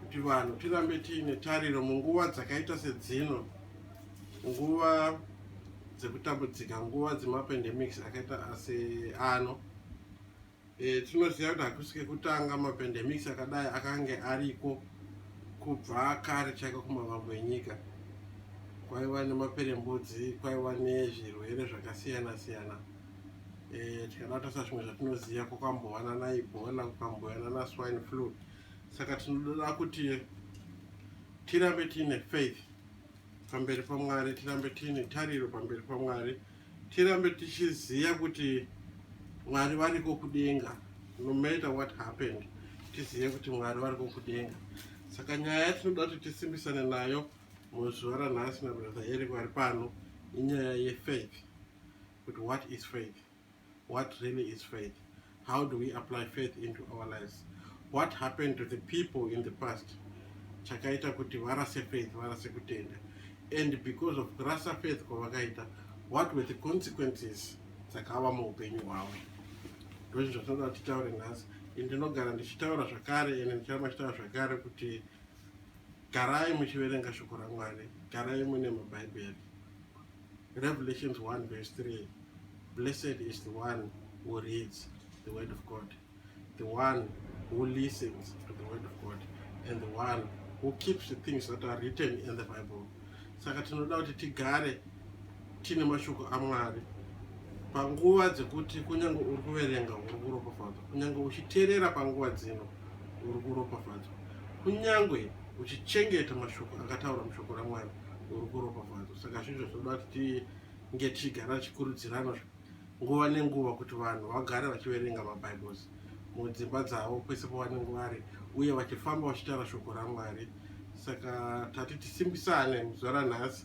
kuti vanhu tirambe tiine tariro munguva dzakaita sedzino nguva dzekutambudzika nguva dzemapendemics akaita ase ano e, tinoziva kuti hakusi kekutanga mapendemics akadai akange ariko kubva kare chaiko kumavambo enyika kwaiva nemaperembudzi kwaiva nezvirwere zvakasiyana siyana eh, tikanata sazvimwe zvatinoziva kwakambovana naibhola kukambovana naswine flu saka tinoda kuti tirambe tiine faith pamberi pamwari tirambe tiine tariro pamberi pamwari tirambe tichiziva kuti mwari variko kudenga no matter what happened tizive kuti mwari variko kudenga saka nyaya yatinoda kuti tisimbisane nayo Muzuva ranhasi nabrother Eric vari pano inyaya yefaith kuti what is faith what really is faith how do we apply faith into our lives what happened to the people in the past chakaita kuti varase faith varase kutenda and because of kurasa faith kwavakaita what were the consequences dzakava muupenyu hwavo ndozvinhu zvatinoda kuti titaure nhasi ndinogara ndichitaura zvakare ende ndicharamba chitaura zvakare kuti garai muchiverenga shoko ramwari garai mune mabhaibheri revelations 1 verse 3 blessed is the one who reads the word of god the one who listens to the word of god and the one who keeps the things that are written in the bible saka tinoda kuti tigare tine mashoko amwari panguva dzekuti kunyange uri kuverenga uri kuropafadzwa kunyange uchiteerera panguva dzino uri kuropafadzwa kunyange uchichengeta mashoko akataura mushoko ramwari uri kuropafadzwa saka zvinhu zvinoda kuti tinge tichigara tichikurudzirana nguva nenguva kuti vanhu vagare vachiverenga mabibles mudzimba dzavo kwese pavanenge vari uye vachifamba vachitaura shoko ramwari saka tati tisimbisane muzuva ranhasi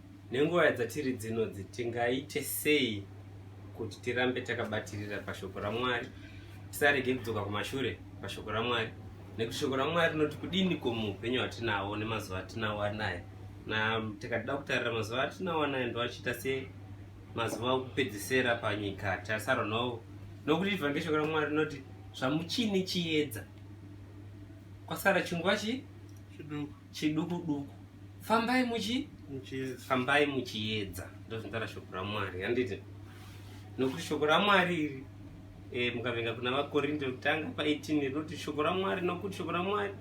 Nenguva dzatiri dzinodzi, tingaite sei kuti tirambe takabatirira pashoko raMwari, tisarege kudzoka kumashure pashoko raMwari? Nekuti shoko raMwari rinoti kudini ko muupenyu hwatinahwo nemazuva atinawo anaya? Na tikada kutarira mazuva atinawo anaya ndoachiita se mazuva okupedzisera panyika tasarwa nawo, nokuti ivhange shoko raMwari rinoti zvamuchine chiedza kwasara chinguva chi chiduku. chiduku duku fambai muchi fambai muchiedza ndozvinotaura shoko ramwari handiti nokuti shoko ramwari iri e, eh, mukavenga kuna vakorinde kutanga pa18 rinoti shoko ramwari nokuti shoko ramwari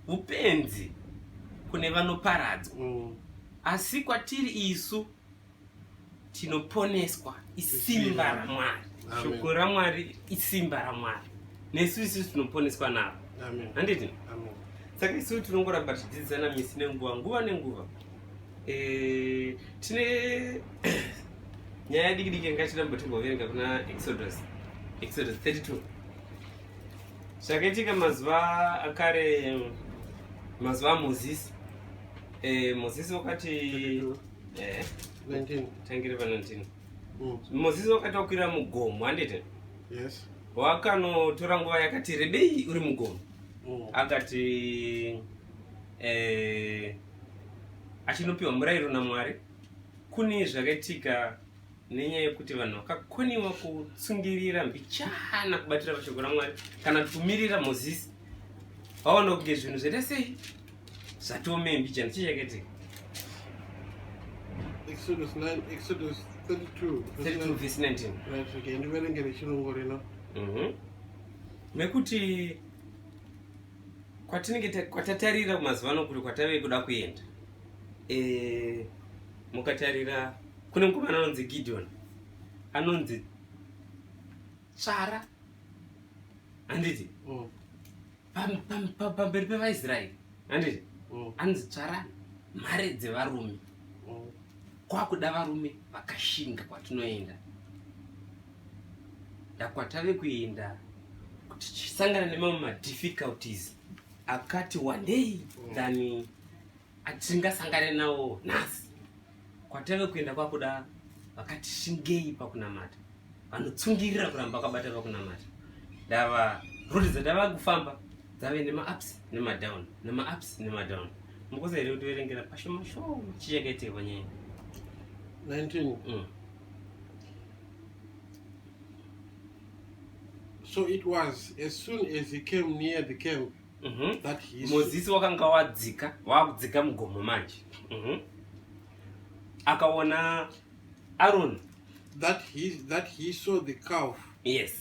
upenzi kune vanoparadzwa mm. asi kwatiri isu tinoponeswa isimba ramwari shoko ramwari isimba ramwari nesu isu tinoponeswa naro handiti saka isu tinongoramba tichidzidzisana misi nenguva nguva nenguva eh, tine nyaya diki diki yanga tiramba timboverenga kuna exodus exodus 32 zvakaitika mazuva akare mazuva amozisi eh, mozisi wakati 32. Eh, 19. Tangire pa 19. Mm. Moses wakati wakwira mugomo handiti? Yes. Wakanotora nguva yakati rebei uri mugomo. Mm. Akati eh achinopiwa murayiro naMwari kune zvakaitika nenyaya yekuti vanhu vakakoniwa kutsungirira mbichana kubatira pashoko ramwari kana kuti kumirira mozisi vaona kunge zvinhu zvaita sei zvatome mbichana chii chakaitika exodus 9 exodus 32 32 verse 19 right okay ndiverengere chirungu rino mhm mekuti kwatinenge kwatatarira kumazuva ano kuri kwatave kuda kuenda e, mukatarira kune mukomana anonzi gideon anonzi tsvara handiti mm. pamberi pevaisraeri handiti mm. anonzi tsvara mhare dzevarume mm. kwakuda varume vakashinga kwatinoenda ndakwatave kuenda kuti tisangana nemamwe madifficulties akati wandei than atingasangane nawo nhasi kwatave kuenda kwakuda vakati shingei pakunamata vanotsungirira kuramba kwabata pakunamata ndava rudi dzatava kufamba dzave nemaups nemadown nemaups nemadown mukosa here kutiverengera pashoma shoma chichakaitirwa nyaya 19 mm. so it was as soon as he came near the camp Mhm. That history. mozisi wakanga wadzika waakudzika mugomo manje Mhm. akaona aroni That he that he saw the calf yes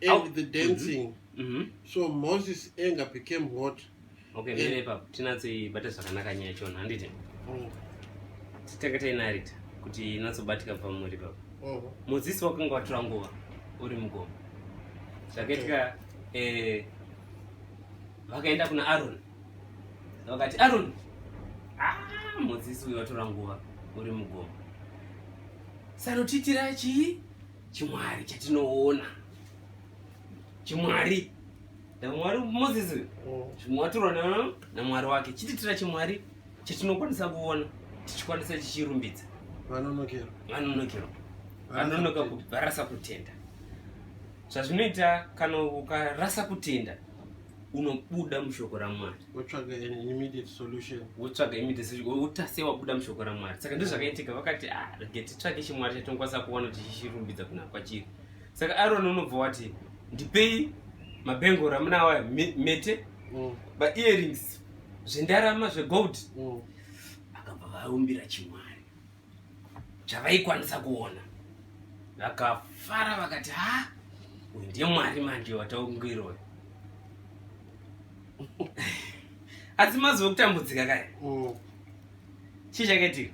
and Au- the dancing. Mhm. So Moses' anger became hot. okay Yeah. mire ipapo tinatsoibata zvakanaka nyaya chona handiti Mm. titanga tainarita kuti inatsobatika pamuri ipapo Mm. mozisi wakanga watora nguva uri mugomo zvakaitika eh, vakaenda kuna Aaron vakati Aaron ah mudzidzisi uyu watora nguva uri mugomo sanotiitira chii chimwari chatinoona chimwari mwari moses chimwatirwa mm. namwari wake chititira chimwari chatinokwanisa kuona tichikwanisa chichirumbidza vanonokero vanononoka kubarasa kutenda zvazvinoita kana ukarasa kutenda unobuda mushoko ramwari wotsvaga immediate solution wotsvaga immediate solution wotase wabuda mushoko ramwari saka ndizvo zvakaitika vakati ah, rege titsvake chimwari chatinokwanisa kuona kuti chichirumbidza kuna kwachiri saka aroni unobva wati ndipei mabhengoro amunawa mete mm. maearings zvendarama zvegold mm. akabva vaumbira chimwari chavaikwanisa kuona vakafara vakati ha uyu ndiye mwari manje wataungiroyo asi mazuva okutambudzika kaya mm. chii chakaitika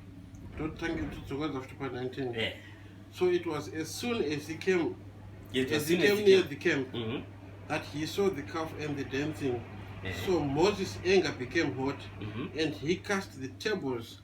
totange tidzokadza futi pa19 eh. so it was as soon as he came yes, as he came near the camp mm -hmm. that he saw the calf and the dancing yeah. so moses anger became hot mm -hmm. and he cast the tables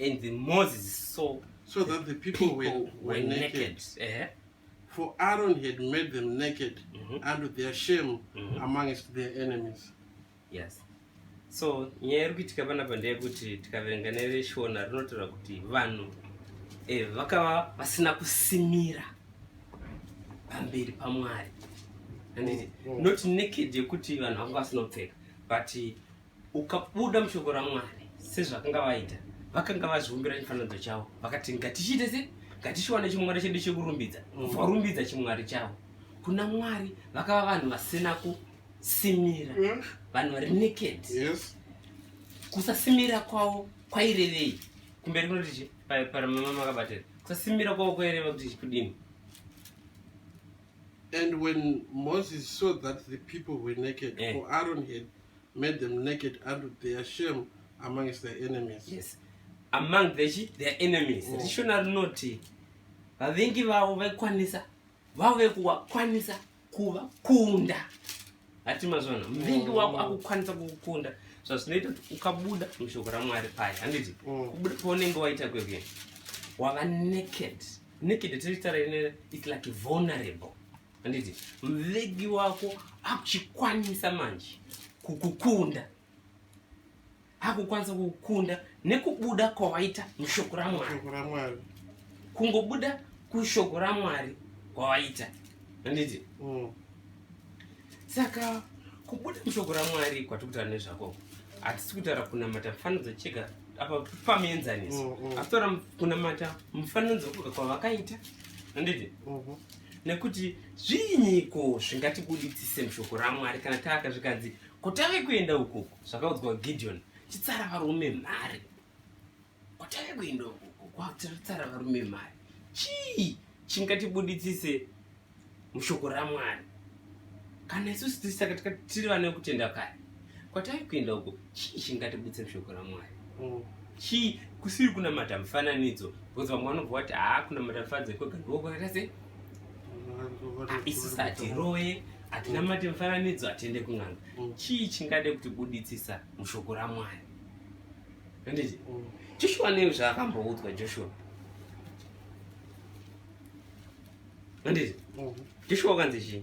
And the Moses saw so that the people, people were, were, were naked. naked. Uh -huh. For Aaron had made them naked mm -hmm. unto their shame mm -hmm. amongst their enemies. Yes. So nyaya iri kuitika panapa ndeyekuti tikaverenga nereshona rinotaura kuti vanhu eh, vakava vasina kusimira pamberi pamwari handiti mm -hmm. not naked yekuti vanhu vanga vasinopfeka but ukabuda mushoko ramwari sezvakanga vaita vakanga vazviumbira chifananidzo chavo vakati ngatichiite se ngatichiwana chimwari chedu chekurumbidza mm. varumbidza chimwari chavo kuna mwari vakava vanhu vasina kusimira mm. vanhu vari naked kusasimira kwavo kwairevei kumberi kunoti chi paramama makabatira kusasimira kwavo kwaireva kuti chikudini and when moses saw that the people were naked eh. for aron had made them naked unto their shame amongst their enemies yes among the chi their enemies mm. rishona rinoti vavengi vavo vaikwanisa vavo vekuvakwanisa kuvakunda hati mazvona muvengi wako mm. akukwanisa kukukunda zvazvinoita kuti ukabuda mushoko ramwari paya handiti mm. kubuda paunenge waita kwekuye wava naked naked tiri tara ine it's like vulnerable handiti mvegi wako akuchikwanisa manje kukukunda akukwanisa kukukunda nekubuda kwawaita mushoko ramwari kungobuda kushoko ramwari kwawaita handiti mm. saka kubuda mushoko ramwari kwatiri kutaura nezvako hatisi kutaura kunamata mufananidzo chega apa pamuenzaniso mm, mm. asi taura kunamata mufananidzo wekuga kwavakaita handiti mm-hmm. nekuti zviinyiko zvingatibuditsise mushoko ramwari kana taaka zvikanzi kotave kuenda ukoko zvakaudzwa gideon chitsara varume mhari kotave kuenda ukoko kwatsara varume mhari chii chingatibuditsise mushoko ramwari kana isusu tisaka tiri vane kutenda kare kwatave kuenda uko chii chingatibutse mushoko ramwari mm. chii kusiri kunamata mufananidzo because vamwe vanobva vati haa kunamata mufananidzo kwega ndokwakaita se ah, isisi hatiroye hatinamate mufananidzo hatiende kun'anga mm. chii chingade kuti buditsisa mushoko ramwari anditi mm. joshua nei zvaakamboudzwa joshua anditi joshua wakanzi chii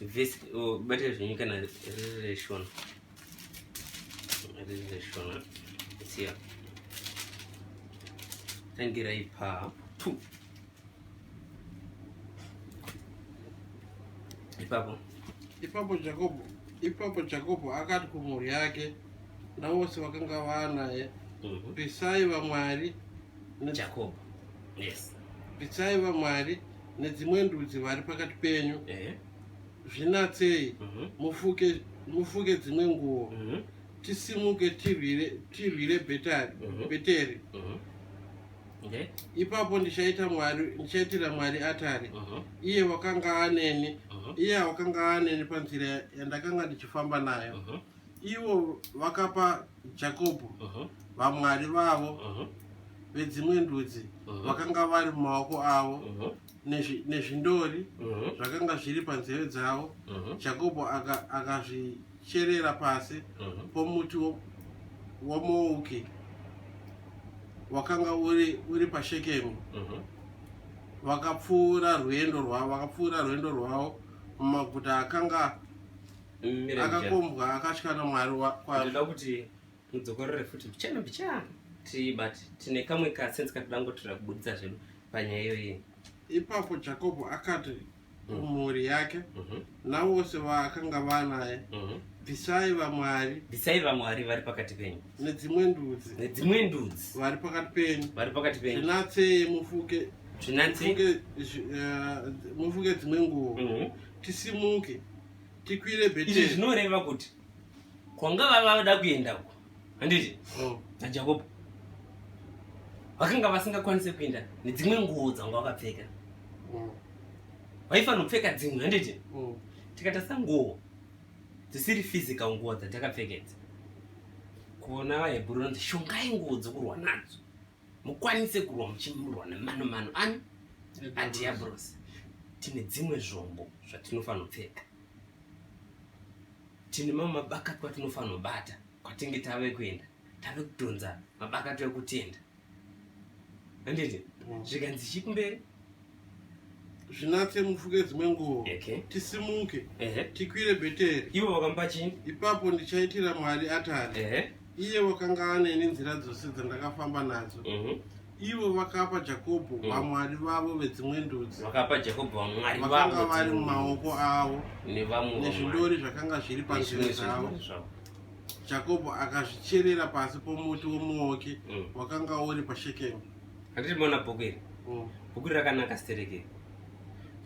vhesi oh, bata zvenyu kana riri reshona riri reshona siya tangirai paa tu ipapo ipapo jakobo ipapo jakobo akati kumhuri yake navose vakanga vaanaye mhm. pisai vamwari jakobo yes pisai vamwari nedzimwe ndudzi vari pakati penyu eh. zvinatsei mhm. mufuke mufuke dzimwe nguo mhm. tisimuke tirwire tirwire betari mhm. beteri ipapo ndichaita mwari ndichaitira mwari atari iye wakanga aneni iye wakanga aneni panzira yandakanga ndichifamba nayo Ivo vakapa Jakobho uh-huh. vamwari vavo uh-huh. vedzimwe ndudzi uh-huh. vakanga vari mumaoko avo nezvindori zvakanga zviri panzeve dzavo jakobho akazvicherera pasi pomuti womouki wakanga uri uri pashekemu mhm. vakapfuura rwendo rwavo vakapfuura rwendo rwavo mumaguta akanga akakombwa akatya namwari wakwanda kuti mudzokorore futi mbichana mbichana ti but tine kamwe kasense katoda ngotoda kubuditsa zvedu panyaya iyoyi ipapo jakobo akati mm. mhuri yake mhm. navose vaakanga vanaye mhm. bvisai vamwari bvisai vamwari vari pakati penyu nedzimwe ndudzi nedzimwe ndudzi vari pakati penyu vari pakati penyu zvinatsei mufuke zvinatsei eh, mufuke dzimwe nguvo mhm. tisimuke tikwire bheteri izvi zvinoreva kuti kwanga vava vada kuenda uko handiti oh. najakobo vakanga vasingakwanise kuenda nedzimwe nguo dzanga vakapfeka oh. vaifanira kupfeka dzimwe handiti oh. tikatasa nguo dzisiri physical nguo dzatakapfekedza kuona vahebhuru nonzi shongai nguo dzokurwa nadzo mukwanise kurwa muchimurwa nemano mano ani adhiabhurosi tine dzimwe zvombo zvatinofanira kupfeka tine mamwe mabakatwa atinofanira kubata kwatinge tave kuenda tave kudhonza mabakatwa ekutenda handiti mm. zvikanzi chikumberi zvinatse mufuke dzimwe nguvo okay. tisimuke uh -huh. tikwire bheteri ivo vakampa chii ipapo ndichaitira mwari atari uh -huh. iye wakanga aneni nzira dzose dzandakafamba nadzo uh mhm. -huh ivo vakapa jakobho mm. vamwari mm. vavo vedzimwe ndudzi vakapa jakobho vamwari vakanga vari mumaoko avo nezvindori zvakanga zviri panzvimbo dzavo jakobho akazvicherera pasi pomuti womuoki mm. wakanga uri pashekemu handiti mona bhuku iri mm. bhuku iri rakanaka stereke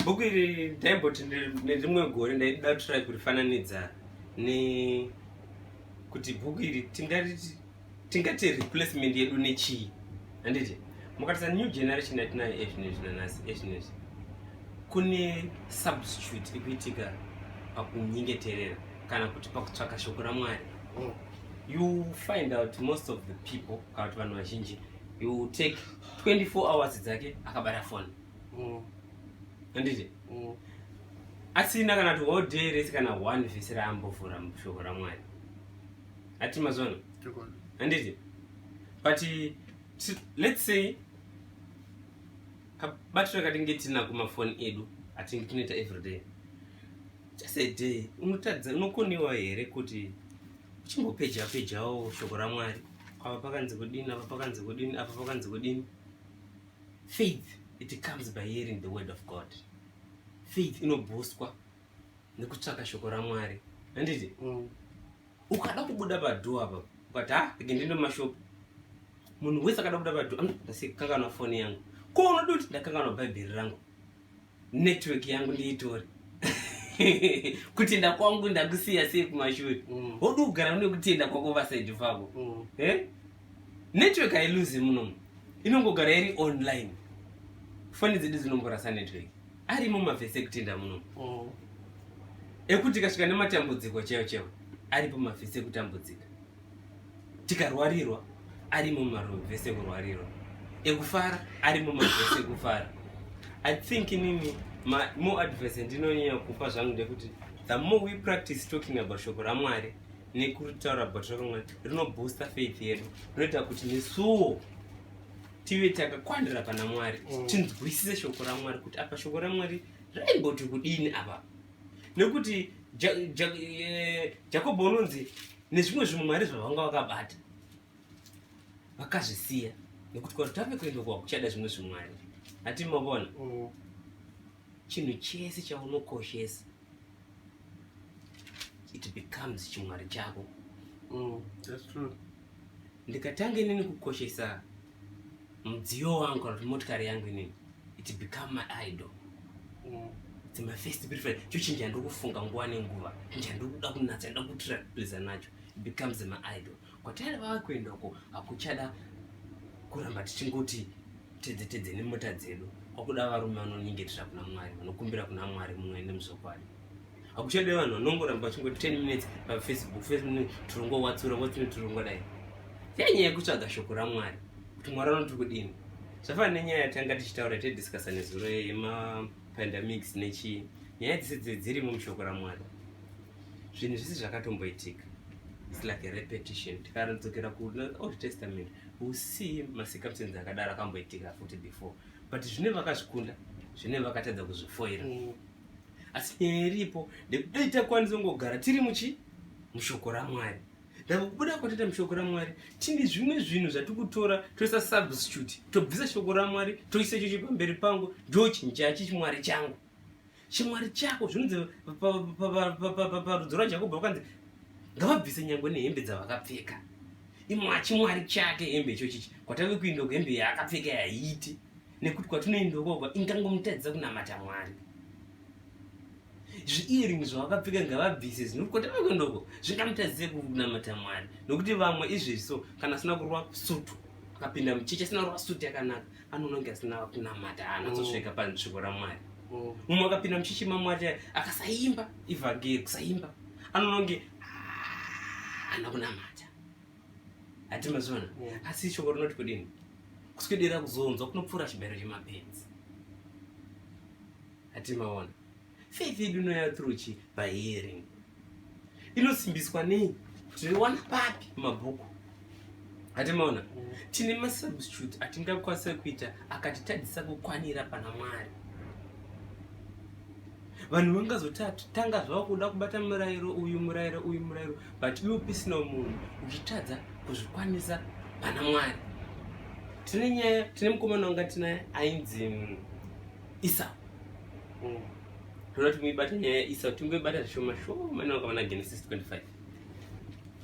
bhuku iri ndaimboti nerimwe gore ndaida try kurifananidza ne kuti bhuku iri tingariti tingati replacement yedu nechii handiti mukatisa new generation yatinayo ezvinezvi nanhasi ezvinezvi kune substitute ikuitika pakunyengeterera kana kuti pakutsvaka shoko ramwari mm. you find out most of the people kana kuti vanhu vazhinji he will take 24 hours dzake akabata phone mm. anditi mm. asina kana kuti whole day rese kana one vhisi raambovhura shoko ramwari ati mazona anditi but let's say kabatiro katinge tina kumafoni edu atinge tinoita everyday just a day unotadza unokonewa here kuti uchingopeja pejawo shoko ramwari apa pakanzi kudini apa pakanzi kudini apa pakanzi kudini faith it comes by hearing the word of god faith inobhuswa nekutsvaka shoko ramwari handiti mm. ukada kubuda padhoo apa ukati ha ah, ege ndindo mashopu munhu wese akada kubuda padhoo ndasikanganwa foni yangu ko unodi kuti ndakanganwa bhaibheri rangu network yangu ndiitore kutenda kwangu ndakusiya sei kumashure mm. wodu kugara une kutenda kwako vasaidi vako mm. eh? network hailuzi munomu inongogara iri online foni dzedu dzinomborasa network arimo mavhesi ekutenda munomu mm. ekuti kasvika nematambudziko chaiwo chaiwo aripo mavhesi ekutambudzika tikarwarirwa arimo mumarwevhesi ekurwarirwa ekufara arimo marwevhesi ekufara i think inini more advice ndinonyanya kupa zvangu ndekuti the more we practice talking about shoko ramwari nekutaura about shoko ramwari rinoboosta faith yedu rinoita kuti nesuwo tive takakwanira pana mwari mm. tinzwisise shoko ramwari kuti apa shoko ramwari raimboti kudini apa nekuti eh, jakobo unonzi nezvimwe zvimwe mwari zvavanga vakabata vakazvisiya nekuti kwati tave kuenda kwa kuchada zvimwe zvimwari hati mavona mm. chinhu chese chaunokoshesa it becomes chimwari chako mm, ndikatanga inini kukoshesa mudziyo wangu kana kuti motikari yangu inini it become my idol mm. it's my first preference cho chinhu chandiri kufunga nguva nenguva chinhu chandiri kuda kunatsa ndoda kutira please nacho becomes my idol kwatari vava kuenda uko hakuchada kuramba tichingoti tedze tedze nemota dzedu kwakuda varume vanonyengetera kuna mwari vanokumbira kuna mwari mumwe nemuzvokwadi akuchade vanhu vanongoramba vachingoti 10 minutes pafacebook face minute tirongowatsura watsura tirongodai yanyaya yekutsvaga shoko ramwari kuti mwari anoti kudini zvafana nenyaya yatanga tichitaura tediscussa nezuro yemapandemics nechii nyaya dzese dze dzirimo mushoko ramwari zvinhu zvese zvakatomboitika its like a repetition tikadzokera kuold testament usi masikamusenzi akadaro akamboitika futi before but zvine vakazvikunda zvine vakatadza kuzvifoira mm. asi nyaya iripo ndekudai takwanisa kungogara tiri muchi mushoko ramwari ndakubuda kwatita mushoko ramwari tine zvimwe zvinhu zvatiri kutora toisa substitute tobvisa shoko ramwari toisa ichocho pamberi pangu ndo chinhu chachi chimwari changu chimwari chako zvinonzi parudzo rwajakobo vakanzi ngavabvise nyangwe nehembe dzavakapfeka imwachimwari chake hembe ichochichi kwatave kuinda kuhembe yaakapfeka yaiti nekuti kwatinoenda ukoko ingangomutadzisa kunamata mwari zviearing zvavakapfeka ngavabvise zinokuti kwatinoenda uko zvingamutadzise kunamata mwari nokuti vamwe izvezvi so kana asina kurwa sutu akapinda mucheche asina kurwa sutu yakanaka anononge asina kunamata anazosvika mm. panzviko ramwari mm. mumwe akapinda mucheche mamwari akasaimba ivhageri kusaimba anononge ana ah, kunamata hatimazviona yeah. asi shoko rinoti kudini kuswedera kuzonzwa kunopfuura chibayiro chemapenzi hatimaona faith yedu inoya through chi by hearing inosimbiswa nei tinowana papi mabhuku hatimaona mm. tine masubstitute atingakwanisa kuita akatitadzisa kukwanira pana mwari vanhu vangazotanga zvavo kuda kubata murayiro uyu murayiro uyu murayiro but iwe upisina munhu uchitadza kuzvikwanisa pana mwari tine nyaya tine mukomana wanga tinaye ainzi mm, isa mm. toda kuti muibata nyaya yaisa timboibata zvishoma shoma inonga vana genesis 25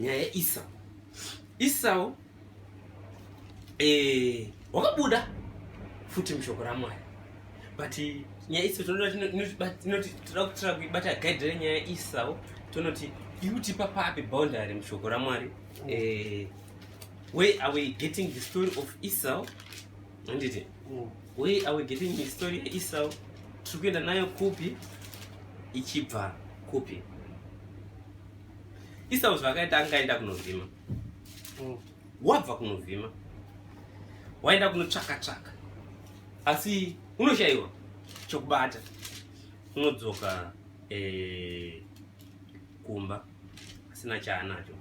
nyaya yaisa isau eh, wakabuda futi mushoko ramwari but nyaya iso tinoti toda kutira kuibata gaidhira nyaya isawo tonoti iutipa papi boundary mushoko ramwari eh, where are we getting the story of esau anditi mm. where are we getting the story esau tiri kuenda nayo kupi ichibva kupi esau zvakaita angaenda kunovhima mm. wabva kunovhima waenda kunotsvaka tsvaka asi unoshaiwa chokubata unodzoka eh, kumba asina chaanacho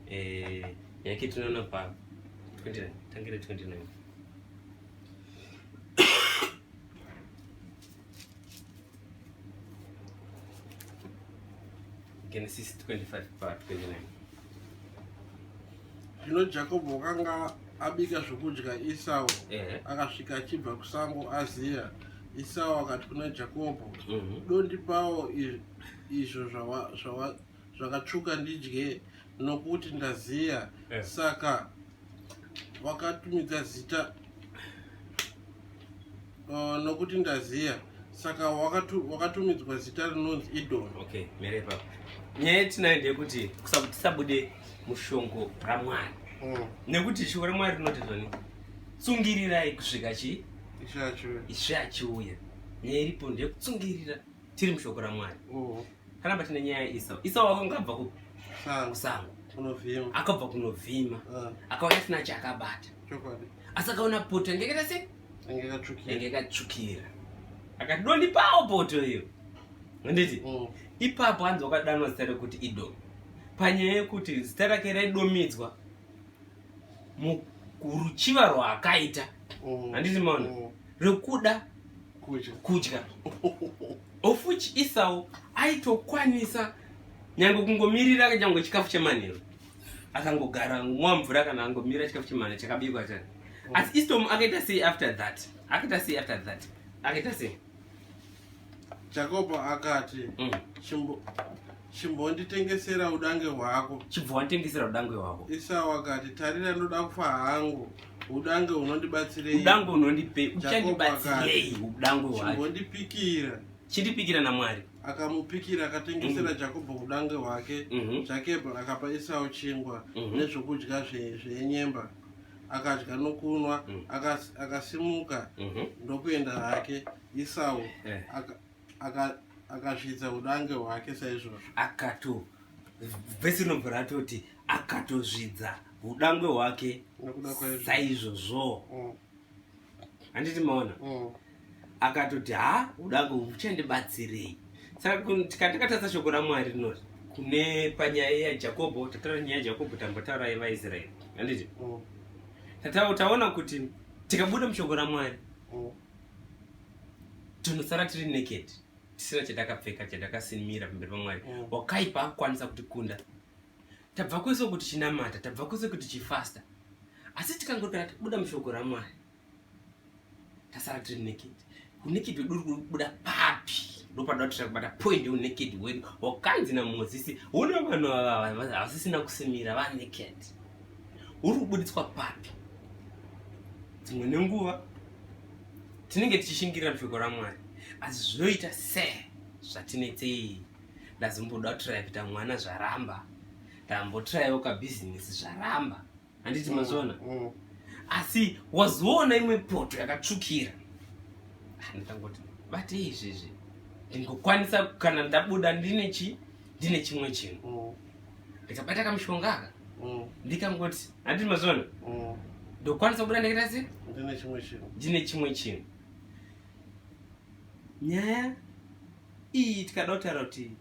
eh, yake tinoona pa 29 tangire 29 Genesis 25 part 29 zvino jakobho wakanga abika zvokudya isau akasvika achibva kusango aziya isau akati kuna jakobho mhm. dondipawo izvo zvawa zvakatsvuka ndidye nokuti ndaziya eh. saka wakatumidza zita uh, nokuti ndaziya saka wakatumidzwa wakatu zita rinonzi idon okay, merepa nyaya yetinayo ndeyekuti tisabude mushongo ramwari mm. nekuti shoko ramwari rinoti zvani tsungirirai kusvika chii ishe achiuya nyaya iripo ndeyekutsungirira tiri mushoko ramwari mm. kana patine nyaya yaisau isau akanga abva kusango akabva kunovhima ah. akaona asina chaakabata asi akaona poto yange kaita se yange katsvukira akati dondipawo poto iyo handiti mm. ipapo hanzi wakadanwa zita rekuti idomi panyaya yekuti zita rake raidomidzwa muruchiva rwaakaita mm. handiti maona mm. rekuda kudya kudya of which isawo aitokwanisa nyange kungomirira nyange chikafu chemanheru akangogara mwa mvura kana angomira chikafu chemanheru chakabikwa chani oh. asi istom akaita sei after that akaita sei after that akaita sei jakobo akati mm. chimbo chimbonditengesera udange hwako chibva wanditengesera udange hwako isau akati tarira ndoda kufa hangu udange unondibatsirei udange unondipei uchandibatsirei udange hwako chimbondipikira chindipikira namwari akamupikira akatengesera mm. jakobho udange hwake mhm. jakebho mm -hmm. akapa isau chingwa mm -hmm. nezvokudya zvenyemba zve akadya nokunwa mm. akasimuka mm -hmm. ndokuenda hake isau eh. akasvitsa udange hwake saizvozvo akato vhesi inobva ratoti akatozvidza udangwe hwake saizvozvo mm. handiti maona mm. akatoti ha udangwe uchandibatsirei saka tikatakatatsa shoko ramwari rinoti kune panyaya yajakobho tataura nyaya yajakobho tambotaura yevaisraeri handiti mm. tataona kuti tikabuda mushoko ramwari tinosara tiri naked tisina chatakapfeka chatakasinimira pamberi pamwari mm. wakaipa akukwanisa kuti kunda tabva kwese kuti chinamata tabva kwese kuti chifasta asi tikangotara tibuda mushoko ramwari tasara tiri naked unaked wedu uri kubuda papi ndopanoda kuti takubata point yeunaked wedu wakanzi namozisi une vanhu havasisina kusimira vanaked uri kubuditswa papi dzimwe nenguva tinenge tichishingirira mushoko ramwari asi zvinoita se zvatinetsei ndazimboda kutiraya kuita mwana zvaramba ndambotirayawo kabhizinesi zvaramba handiti mm, mazviona mm. asi wazoona imwe poto yakatsvukira ah, ndikangoti bate izvezvi ndingokwanisa kana ndabuda ndine chi ndine chimwe chinhu mm. ndikabata kamushonga aka ndikangoti Handi mazvona. Mm. Ndokwanisa kubuda ndikaita sei? Ndine chimwe chinhu. Ndine chimwe chinhu. Nyaya iyi tikada kutaura kuti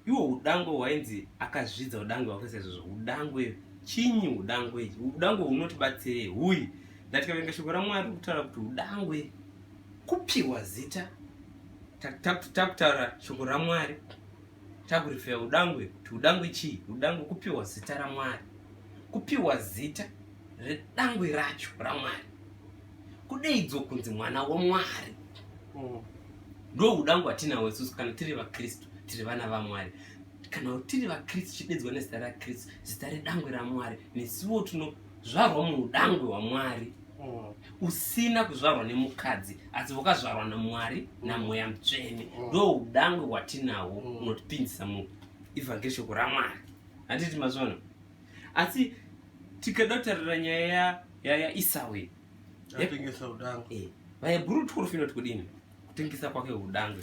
iwo udangwe hwainzi akazvidza udangwe hwakaisa izvozvo udangwe chinyi udangwe ichi udangwe hunotibatsirei huyi ndatikavenga shoko ramwari kutaura kuti udangwe kupiwa zita takutaura shoko ramwari Takurifeya udangwe kuti udangwe chii? Udangwe kupiwa zita raMwari, kupiwa zita redangwe racho raMwari, kudeidzwa kunzi mwana waMwari. Mm. Ndo udangwe hatinawo isusu kana tiri vaKristu, tiri vana vaMwari kana tiri vakristu chidedzwa nezita rakristu zita redangwe ramwari nesuwo tinozvarwa muudangwe hwamwari mm. usina kuzvarwa nemukadzi asi wakazvarwa namwari namweya mutsvene mm. ndo udangwe hwatinahwo unotipinzisa mu evhangeri shoko ramwari handiti mazvona asi tikada kutarira nyaya yaisau iyi eh, vaebhuru torofinoti kudini kutengesa kwake udangwe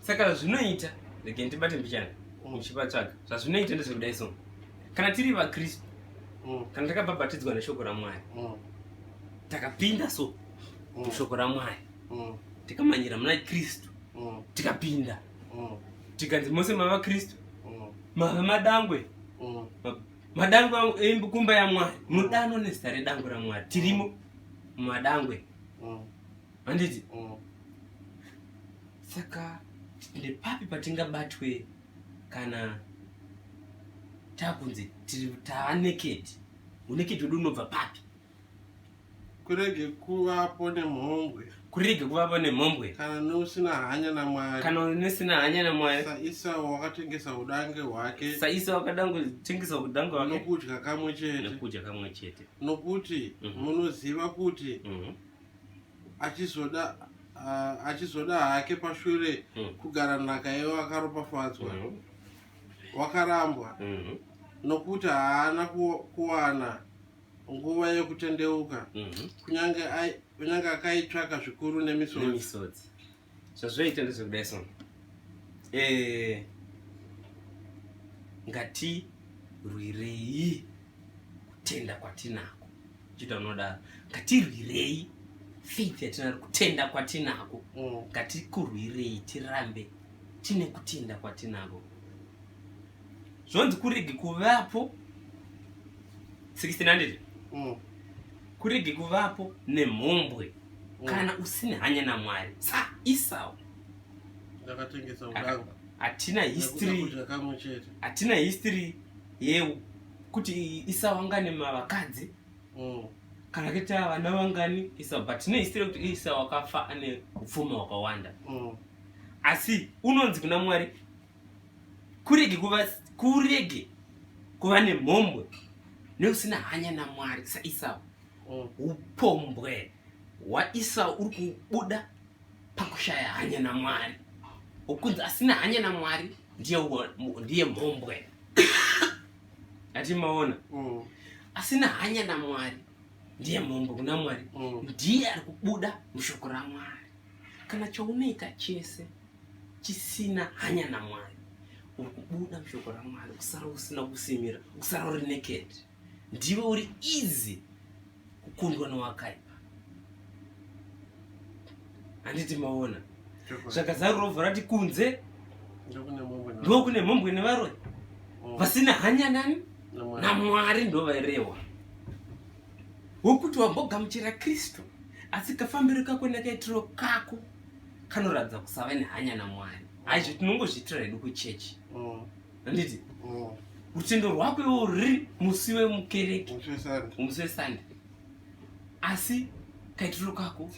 saka zvinoita rege ndibate mbichana mm. uchivatsvaga zvazvinoita ndezvekudai so kana tiri vakristu mm. kana takabhabhatidzwa neshoko ramwari mm. takapinda so mushoko ramwari tikamanyira muna kristu tikapinda tikanzi mose mava kristu mava madangwe madangwe ekumba yamwari mudano nezita redangwe ramwari tirimo mumadangwe handiti mm. saka ende papi patingabatwe kana takunzi tiri taaneked uneked wedu unobva papi kurege kuvapo nemhombwe kurege kuvapo nemhombwe kana neusina hanya namwari kana neusina hanya namwari saisao wakatengesa udange hwake saisao wakatengesa udange hwake nokudya kamwe chete nokudya kamwe chete nokuti mhm. munoziva mm -hmm. kuti mm -hmm. achizoda uh, achizoda hake pashure mm. kugara nhaka yewo akaropafadzwa mm -hmm. wakarambwa mm -hmm. nokuti haana kuwana nguva yekutendeuka mm -hmm. kunyange akaitsvaka zvikuru nemisodzi zvazvaita ndezvekudai so eh, ngatirwirei kutenda kwatinako chita unodaro ngatirwirei faith yatinaro kutenda kwatinako mm. ngatikurwirei tirambe tine kutenda kwatinako zvonzi kurege kuvapo 1600 mm. Kurege kuvapo nemhombwe mm. kana usine hanya naMwari. Sa Isau ndakatengesa udangu. Hatina history. Hatina history yeu kuti Isau anga nemavakadzi. Mm kana kuita vana vangani isa but tine history kuti isa wakafa ane upfumi hwakawanda mm. asi unonzi kuna mwari kurege kuva kurege kuva nemhombwe neusina hanya namwari saisau mm. upombwe hwaisau uri kubuda pakushaya hanya namwari ukunzi asina hanya namwari ndiye ndiye mhombwe atimaona mm. asina hanya namwari ndiye mhombwe kuna mwari mm. ndiye ari kubuda mushoko ramwari kana chaunoita chese chisina hanya namwari uri kubuda mushoko ramwari kusara usina kusimira kusara uri naked ndiwe uri easy kukundwa nowakaipa handiti maona zvakazaro rovha rati kunze ndo kune mhombwe nevaroi oh. vasina hanya nani namwari ndo vairehwa wokuti wambogamuchira kristu asi kafambiro kako nakaitiro kako kanoratidza kusava nehanya namwari aizvo tinongozviitira hedu kuchechi mm. handiti mm. rutendo rwako iwo ruri musi wemukereke musi wesande asi kaitiro kako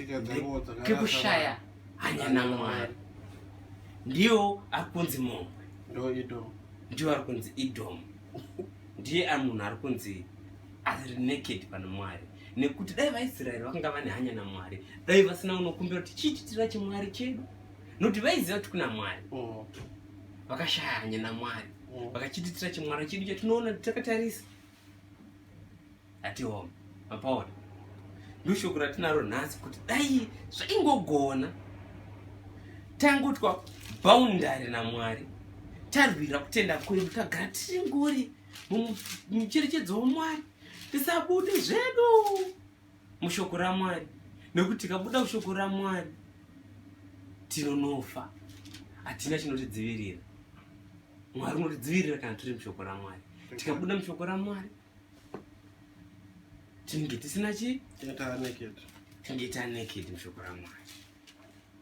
kekushaya hanya namwari ndiyo ari kunzi momwe ndiyo ari kunzi idomu ndiye ari munhu ari kunzi ari naked pana mwari nekuti dai vaisraeri vakanga vane hanya namwari dai vasina unokumbira kuti chiititira chimwari chedu nokuti vaiziva kuti kuna mwari mm. vakashaya hanya namwari mm. vakachiititira chimwari chedu chatinoona takatarisa atihoma mapaona ndoshoko ratinaro nhasi kuti dai zvaingogona tangotwa bhaundari namwari tarwira kutenda kwedu tagara tiri ngori mucherechedzo wamwari tisabude zvedu mushoko ramwari nekuti tikabuda mushoko ramwari tinonofa hatina chinotidzivirira mwari unotidzivirira kana tiri mushoko ramwari tikabuda mushoko ramwari tinenge tisina chii tinenge taneked mushoko ramwari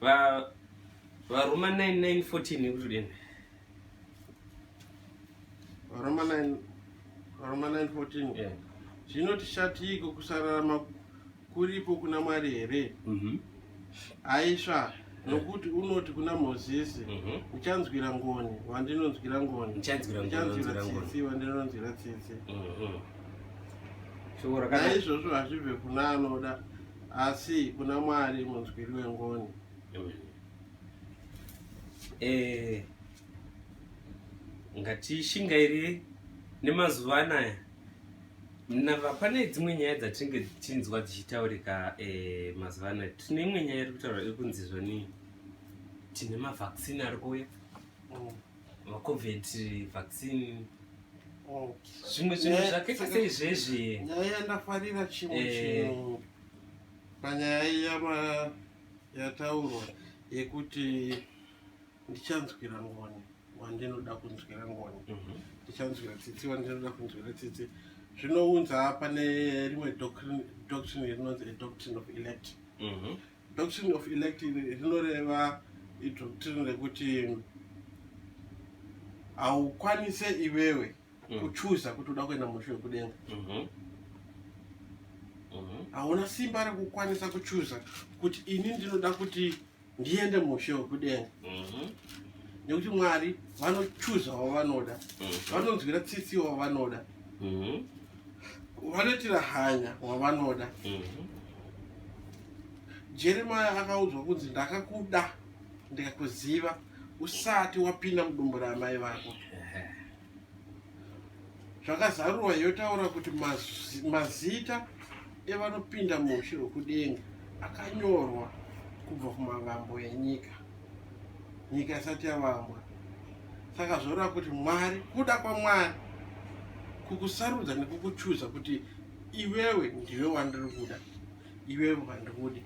Va varuma 9914 nekutodini? Varuma 9 varuma 914. Yeah. Zvinoti shatiiko kusararama kuripo kuna Mwari here? Mhm. Mm Aisha nokuti unoti kuna mozisi mhm. uchanzwira ngoni wandinonzwira ngoni uchanzwira tsitsi wandinonzwira tsitsi mhm. naizvozvo hazvibve kuna anoda asi kuna mwari munzwiri wengoni eh, ngatishingairire nemazuva anaya mnava pane dzimwe nyaya dzatinenge tichinzwa dzichitaurika eh, mazuva anaya tine imwe nyaya iri kutaura iri kunzi zvoni tine mavaccine ari kuuya mm. macovid vaccine oh. zvimwe zvinhu eh, zvakaita seizvezvi nyaya yandafarira chimwe eh. chinhu panyaya iya yataurwa yekuti ndichanzwira ngoni wandinoda kunzwira ngoni mhm. ndichanzwira tsitsi wandinoda kunzwira tsitsi zvinounza pane rimwe doctrine rinonzi adoctrine of elect mhm. Doctrine of elect rinoreva idoctrine rekuti haukwanise iwewe mm. kuchuza kuti uda kuenda mushu wekudenga mhm. Mhm. hauna simba rekukwanisa kuchuza kuti ini ndinoda kuti ndiende mushe wekudenga mhm. nekuti mwari vanochuza wavanoda vanonzwira tsitsi wavanoda vanoitira hanya wavanoda mhm. jeremaya akaudzwa kunzi ndakakuda ndikakuziva usati wapinda mudumbu raamai vako zvakazarurwa yotaura kuti mazita evanopinda muushi hwekudenga akanyorwa kubva kumavambo enyika nyika isati yavambwa saka zvoreva kuti mwari kuda kwamwari kukusarudza nekukuchuza kuti iwewe ndiwe wandiri kuda iwewe wandikudi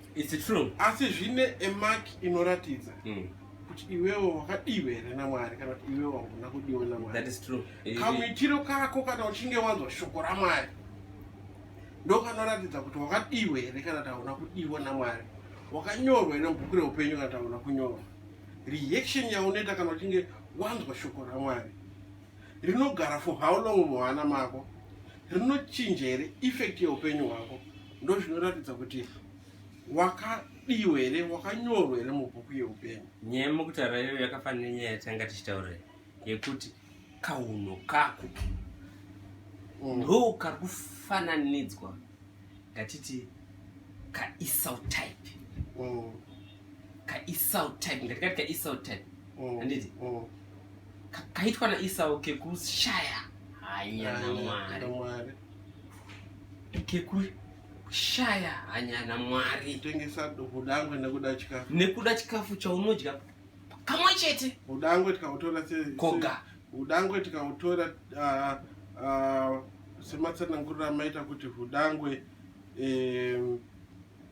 asi zvine emak inoratidza mm. kuti iwewe wakadiwe here namwari kana kuti iwewe wanguna kudiwa namwari kamuitiro kako kana uchinge wanzwa shoko ramwari ndokanoratidza kuti wakadiwe here kana kuti hauna kudiwa namwari wakanyorwa ine bhuku reupenyu kana taona kunyorwa reaction yaunoita kana uchinge wanzwa shoko ramwari rinogara for how long muhana mako rinochinja here effect yeupenyu hwako ndo zvinoratidza kuti wakadiwa here wakanyorwa here mubhuku yeupenyu nyaya mukutaura iyoyo yakafanira nenyaya yatanga tichitaura yekuti Kauno kako mm. ndo kari kufananidzwa ngatiti kaisau type mm. kaisau type ngatikati kaisau type mm. handiti mm. kaitwa naisau kekushaya hanya namwari kekushaya hanya namwari tengesa duku dangwe nekuda chikafu nekuda chikafu chaunodya kamwe chete udangwe tikautora koga udangwe tikautora uh, uh, sematsananguriro amaita kuti udangwe um,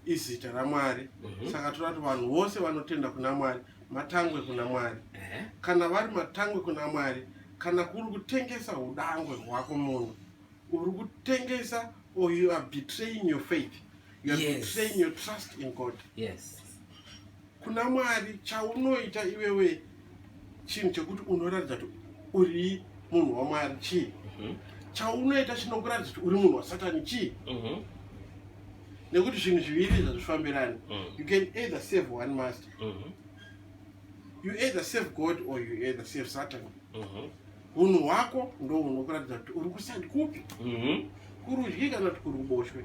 izita ramwari mm -hmm. saka tinoda kuti vanhu vose vanotenda kuna mwari matangwe kuna mwari mm -hmm. kana vari matangwe kuna mwari kana kuri kutengesa udangwe hwako munhu uri kutengesa or you are betraying your faith you are yes. betraying your trust in god yes kuna Mwari chaunoita iwewe chinhu chekuti unoratidza kuti uri munhu waMwari chii mhm. chaunoita chinokuratidza kuti uri munhu wasatani chii mhm. nekuti zvinhu zviviri izvi hazvifambirani mhm. you can either save one master you either save god or you either save satan hunhu hwako ndo hunokuratidza kuti uri kusandi kupi kurudyi kana kuti kuri kuboshwe